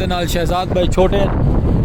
دے نال شہزاد بھائی چھوٹے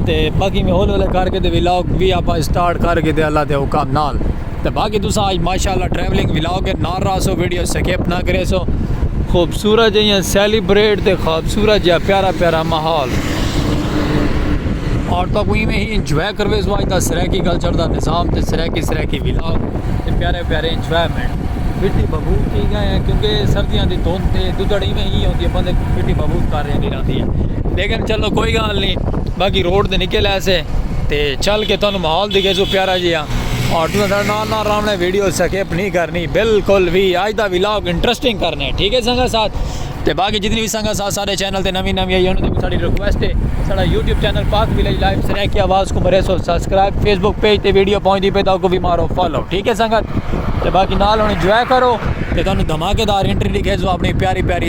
تے باقی میں ہولے ہولے کر کے تے ولاگ بھی آپ سٹارٹ کر کے تے اللہ دے حکم نال تے باقی تساں آج ماشاءاللہ ٹریولنگ ولاگ کے نال رہا سو ویڈیو سکپ نہ کرے سو خوبصورت جہاں سیلیبریٹ تے خوبصورت جہاں پیارا پیارا ماحول اور تو کوئی میں ہی انجوائے کروے سو آج دا سریکی کلچر دا نظام تے سریکی سریکی ولاگ تے پیارے پیارے انجوائمنٹ پھٹی ببو کی گئے ہیں کیونکہ سردیاں دی دھوند تے دودڑی میں ہی ہوتی ہے بندے پھٹی ببو کر رہے ہیں آندی ہے لیکن چلو کوئی گال نہیں باقی روڈ دے نکل آئے سے تے چل کے تانوں ماحول دکھے سو پیارا جی ہاں اور توں سارے نال نال رامنا ویڈیو سکیپ نہیں کرنی بالکل بھی آج دا ولاگ انٹرسٹنگ کرنے ٹھیک ہے سنگا ساتھ تے باقی جتنی بھی سنگا ساتھ سارے چینل تے نوی نوی آئی انہوں نے ساری ریکویسٹ ہے سارا YouTube channel Pak village live سنے کی آواز کو مرے سو سبسکرائب فیس بک پیج تے ویڈیو پہنچ دی پہ تاؤ کو بھی مارو فالو ٹھیک ہے سنگت تے باقی نال ہوں انجوائے کرو تے تانوں دھماکے دار انٹری دکھے سو اپنی پیاری پیاری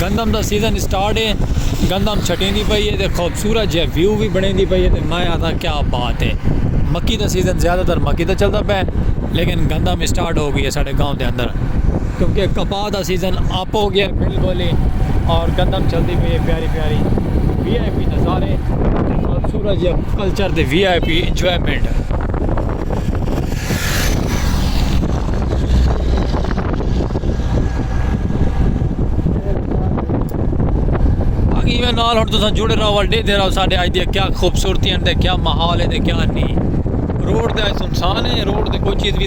گندم دا سیزن اسٹارٹ ہے گندم چھٹیں دی پئی ہے تے خوبصورت جے ویو وی بنیں دی پئی ہے تے میں آتا کیا بات ہے مکی دا سیزن زیادہ تر مکی دا چلدا پے لیکن گندم اسٹارٹ ہو گئی ہے ساڈے گاؤں دے اندر کیونکہ کپا۔ کپاہ دا سیزن اپ ہو گیا بل بولے اور گندم چلدی پئی ہے پیاری پیاری وی آئی پی نظارے اور سورج کلچر دے وی آئی پی انجوائمنٹ نال ہن تساں جڑے رہو ول ڈیتے رہو ساڈے اج دی کیا خوبصورتی ہیں تے کیا ماحول ہے تے کیا نہیں روڈ تے سنسان ہے روڈ تے کوئی چیز بھی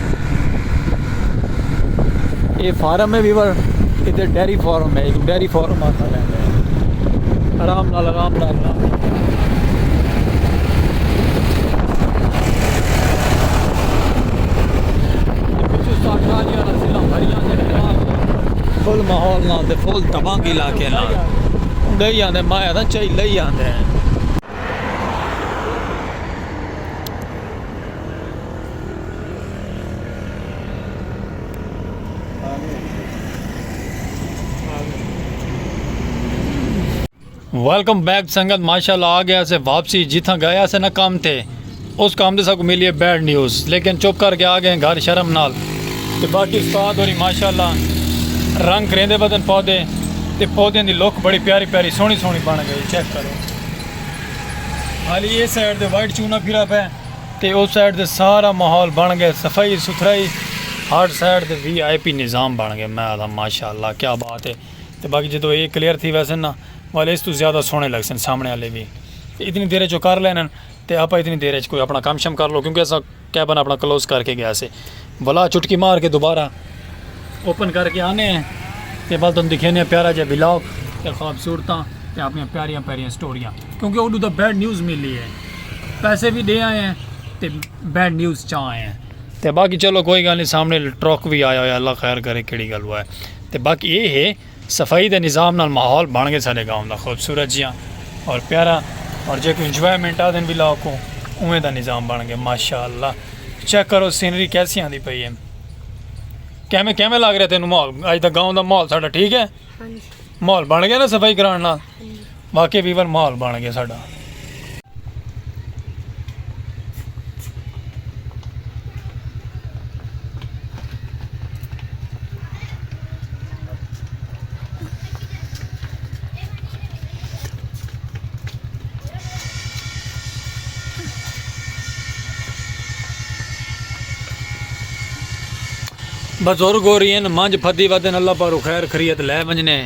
یہ فارم ہے ویور ادھر ڈیری فارم ہے ڈیری فارم آتا ہے آرام نال آرام نال آرام فل ماحول نال تے فل دبنگ علاقے نال لئی آندے مایا نا چاہی لئی آندے ہیں ویلکم بیک سنگت ماشاءاللہ آ گیا سے واپسی جتھاں گیا سے نہ کام تھے اس کام دے ساکو ملی ہے بیڈ نیوز لیکن چپ کر کے آ گئے گھر شرم نال تے باقی استاد ہوری ماشاءاللہ رنگ کریندے بدن پودے تے پودے دی لک بڑی پیاری پیاری سونی سونی بن گئی چیک کرو حالی یہ سائیڈ دے وائٹ چونا پھرا پہ تے او سائیڈ تے سارا ماحول بن گئے صفائی ستھرائی ہر سائیڈ تے وی آئی پی نظام بن گئے میں آدھا ماشاء اللہ کیا بات ہے تے باقی جدو اے کلیئر تھی ویسے نا والے اس تو زیادہ سونے لگ سن سامنے والے بھی تے اتنی دیر چو کر لینا تے آپ اتنی دیر چ کوئی اپنا کام شم کر لو کیونکہ ایسا کیبن اپنا کلوز کر کے گیا سے بلا چٹکی مار کے دوبارہ اوپن کر کے آنے ہیں تے بل تم دکھینے پیارا جے بلاگ تے خوابصورتاں تے اپنی پیاریاں پیاریاں سٹوریاں کیونکہ اوڈو دا بیڈ نیوز ملی ہے پیسے بھی دے آئے ہیں تے بیڈ نیوز چاہ آئے ہیں تے باقی چلو کوئی گالی سامنے ٹرک بھی آیا ہویا اللہ خیر کرے کیڑی گلو ہے تے باقی اے ہے صفائی دے نظام نال ماحول بن گئے ساڈے گاؤں دا خوبصورت جیاں اور پیارا اور جیکوں انجوائمنٹ آدھن ولا اوکوں اوویں دا نظام بن گئے ماشاءاللہ چیک کرو سینری کیسی آندی پئی ہے کیویں کیویں لگ رہے تینوں ماحول اج دا گاؤں دا ماحول ساڈا ٹھیک ہے ماحول بن گیا نا صفائی کران نال واقعی ویور ماحول بن گئے ساڈا۔ بزرگ ہورین منجھ پھدی ودن اللہ پاروں خیر خریت لے ونجنے۔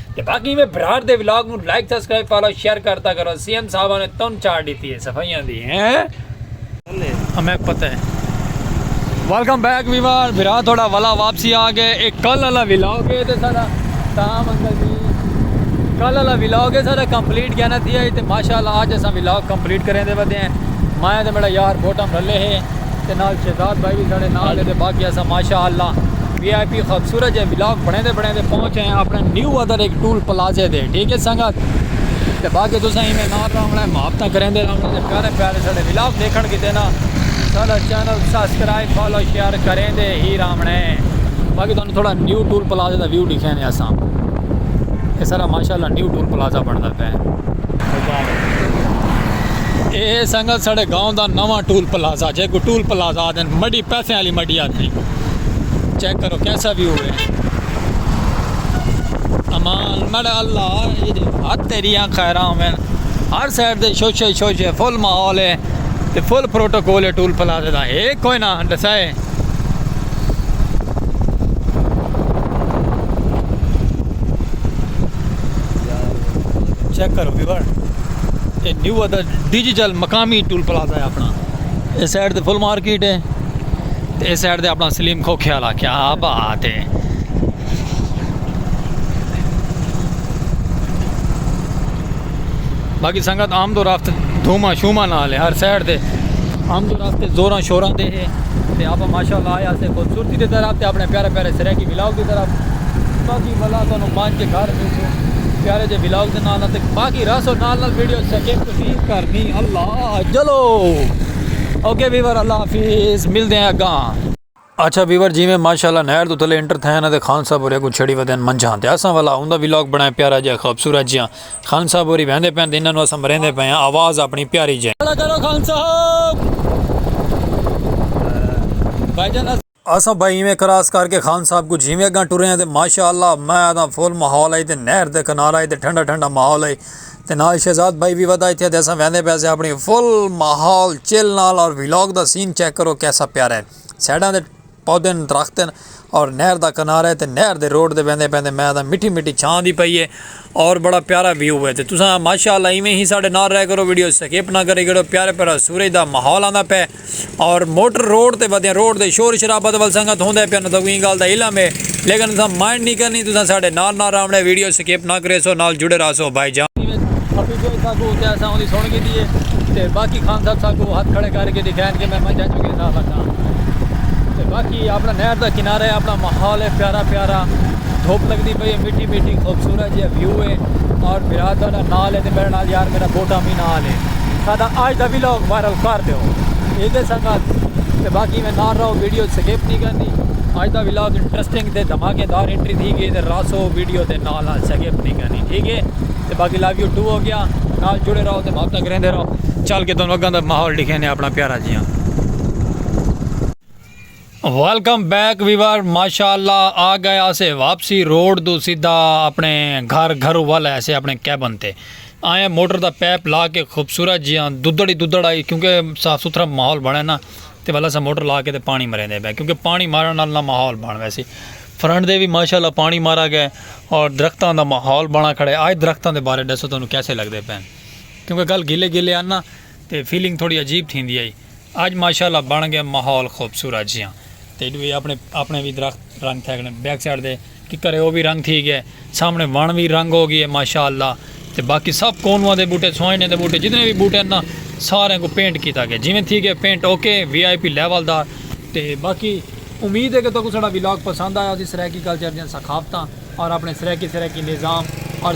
تے باقی میں برار دے ولاگ نو لائک سبسکرائب فالو شیئر کرتا کرو سی ایم صاحبہ نے تن چاڑ ڈیتی ہے صفائیاں دی ہیں ہمیں پتہ ہے ویلکم بیک ویوار برا تھوڑا والا واپسی آ گئے ایک کل والا ولاگ ہے تے سارا تام انکل جی کل والا ولاگ ہے سارا کمپلیٹ کہنا تھی ہے تے ماشاءاللہ آج اسا ولاگ کمپلیٹ کریں دے بدے ہیں مایا تے میرا یار بوٹم رلے ہے تے نال شہزاد بھائی بھی سارے نال دے باقی اسا ماشاءاللہ وی آئی پی خوبصورت جے ولاگ بنیندے بنیندے پہنچ ہیں اپنے نیو ادر ایک ٹول پلازے دے ٹھیک ہے سنگت تے باقی تساں ہی میں نال رہنا ہے محبتاں کریندے رہنا تے پیارے پیارے سارے ولاگ دیکھن کیتے نا سارا چینل سبسکرائب فالو شیئر کریندے ہی رہنا ہے باقی تانوں تھوڑا نیو ٹول پلازے دا ویو دکھیندے اساں اے سارا ماشاءاللہ نیو ٹول پلازہ بندا پیا اے سنگت سارے گاؤں دا نواں ٹول پلازہ جے کو ٹول پلازہ دن مڈی پیسے والی مڈی آتی چیک کرو کیسا بھی ہوئے امان مڑ اللہ ہاتھ تیریاں خیراں ہوئے ہر سائڈ دے شوشے شوشے فل ماحول ہے تے فل پروٹوکول ہے ٹول پلازے دا ہے کوئی نہ ڈسائے چیک کرو ویور یہ نیو ادا ڈیجیٹل مقامی ٹول پلازا ہے اپنا اس سائڈ تے فل مارکیٹ ہے تے اے سائیڈ تے اپنا سلیم کھوکھے آلا آکھیا ہا ابا آ تے۔ باقی سنگت آمد و رفت دھوما شوما نال ہے ہر سائیڈ تے آمد و رفت زوراں شوراں دے ہے تے آپا ماشاءاللہ آیا سے خوبصورتی دے طرف تے اپنے پیارے پیارے سریکی ولاگ دی طرف باقی ملا تو انہوں مانج کے گھر میں سے پیارے جے ولاگ دے نال تے باقی راسو نال نال ویڈیو سکیپ تو نہیں کرنی اللہ جلو اوکے ویور اللہ حافظ ملدے ہیں اگاں۔ اچھا ویور جیویں ماشاءاللہ نہر توں تھلے انٹر تھئے ہن اتے خان صاحب ہوری اگوں چھڑی ودے ہن منجھاں تے اساں والا اوندا ولاگ بنڑائے پیارا جیہا خوبصورت جیہا خان صاحب ہوری ویندے پئے ہن تے انہاں نوں اساں مریندے پئے ہاں آواز اپنی پیاری جیہی۔ بھائی جان اساں۔ آصف بھائی ایویں کراس کر کے خان صاحب کوں جیویں اگاں ٹرے آں تے ماشاء اللہ میں آدھاں فل ماحول ہئی تے نہر تے کنارہ ہئی تے ٹھنڈا ٹھنڈا ماحول ہئی تے نال شہزاد بھائی وی ودھا تھیا تے اساں ویندے پئے سے اپنی فل ماحول چل نال اور ولاگ دا سین چیک کرو کیسا پیارا ہے سائیڈاں تے پودے ہن درخت ہن اور نہر دا کنارہ ہے تے نہر دے روڈ تے ویندے پئے تے میں آدھاں مٹھی مٹھی چھاں دی پئی ہے اور بڑا پیارا ویو ہے تے تساں ماشاء اللہ ایویں ہی ساڈے نال رہیا کرو ویڈیو سکپ نہ کریا کرو پیارا پیارا سورج دا ماحول آندا پئے اور موٹر روڈ تے ودیاں روڈ تے شور شرابہ دا ول سنگت ہوندے پیا نتاکوں ایں گال دا علم ہے لیکن اساں مائنڈ نی کرنی تساں ساڈے نال نال راونڑے ویڈیو سکپ نہ کریسو نال جڑے راہسو بھائی جان۔ حفیظ بھائی ساکوں تے اساں اوندی سن گھدی ہے تے باقی خان صاحب ساکوں ہتھ کھڑے کر کے دکھائن کہ میں منجھاں چوں کیسا لگاں تے باقی اپنا نہر دا کنارہ ہے اپنا ماحول ہے پیارا پیارا دھوپ لگدی پئی ہے مٹی مٹی خوبصورت جیہا ویو ہے اور میرا دادا نال ہے تے میرے نال یار میرا بوٹا وی نال ہے۔ ساڈا آج دا ویلاگ وائرل کر دیو ایدے سنگت تے باقی میں نار رہو ویڈیو سکیپ نہیں کرنی آج دا ویلاگ انٹرسٹنگ تے دھماکے دار انٹری تھی گئی تے راسو ویڈیو تے نال نال سکیپ نہیں کرنی ٹھیک ہے تے باقی لو یو ٹو ہو گیا نال جڑے رہو تے بھاپ تک رہندے رہو چل کے تنوں اگاں دا ماحول دکھینے اپنا پیارا جیاں ویلکم بیک ویور ماشاء اللہ آ گئے آسے واپسی روڈ تو سیدھا اپنے گھر گھر والا ایسے اپنے کیبن تے آئے موٹر دا پیپ لا کے خوبصورت جی ہاں دودڑی دودڑ آئی کیونکہ صاف ستھرا ماحول بنے نا تے والا سا موٹر لا کے تے پانی مرے دے پہ کیونکہ پانی مارن نال نہ ماحول بن ویسی فرنٹ دے بھی ماشاء اللہ پانی مارا گئے اور درختوں دا ماحول بنا کھڑے آئے درختوں دے بارے ڈسو تمہیں کیسے لگتے پہ کیونکہ گل گلے گلے آنا تے فیلنگ تھوڑی عجیب تھیندی ہئی اج ماشاءاللہ بن گئے ماحول خوبصورت جیاں تے ایڈو اے اپنے اپنے وی درخت رنگ تھئے گئے بیک سائیڈ دے ککر اے او وی رنگ تھی گئے سامنے وݨ وی رنگ ہو گئے ماشاءاللہ تے باقی سب کونواں دے بوٹے سوئینے دے بوٹے جتنے وی بوٹے نا سارے کو پینٹ کیتا گئے جویں تھی گئے paint okay V I P level دا تے باقی امید ہے کہ تہاکوں ساڈا ولاگ پسند آیا ہوسی سرائیکی کلچر دیاں ثقافتاں اور اپنے سرائیکی سرائیکی نظام اور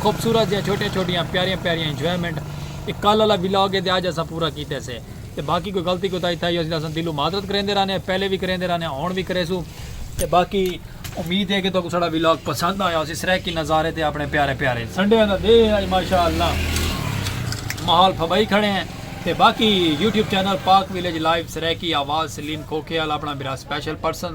خوبصورت جیاں چھوٹیاں چھوٹیاں پیاریاں پیاریاں انجوائمنٹ اے کل آلا ولاگ ہے تے اج اساں پورا کیتے سے تے باقی کوئی غلطی کوتاہی تھائی ہوسی تاں اساں دلوں معذرت کریندے رہنے آں پہلے وی کریندے رہنے آں ہن وی کریسوں تے باقی امید ہے کہ تہاکوں ساڈا ولاگ پسند آیا ہوسی سرائیکی نظارے تے اپنے پیارے پیارے سنڈے دا دے اج ماشاءاللہ ماحول پھبائی کھڑے ہیں تے باقی YouTube channel Pak village live Saraiki آواز سلیم کھوکھے والا اپنا میرا سپیشل پرسن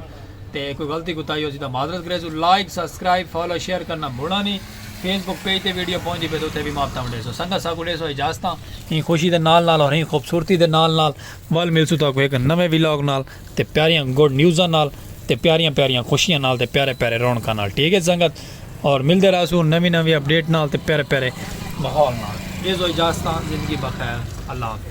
تے کوئی غلطی کوتاہی ہوسی تاں معذرت گریسوں لائک سبسکرائب فالو شیئر کرنا بھولاں نی فیس بک پیج تے ویڈیو پہنچ دی پے تے اتھے وی ماپ تاں ونڈیسوں سنگت ساکوں ڈیسوں اجازتاں ایں خوشی دے نال نال اور ایں خوبصورتی دے نال نال ول ملسوں تاکوں ہک نویں ولاگ نال تے پیاریاں گڈ نیوزاں نال تے پیاریاں پیاریاں خوشیاں نال تے پیارے پیارے رونقاں نال ٹھیک ہے سنگت اور ملدے رہسوں نویں نویں اپڈیٹ نال تے پیارے پیارے ماحول نال ڈیسوں اجازتاں زندگی بخیر اللہ حافظ۔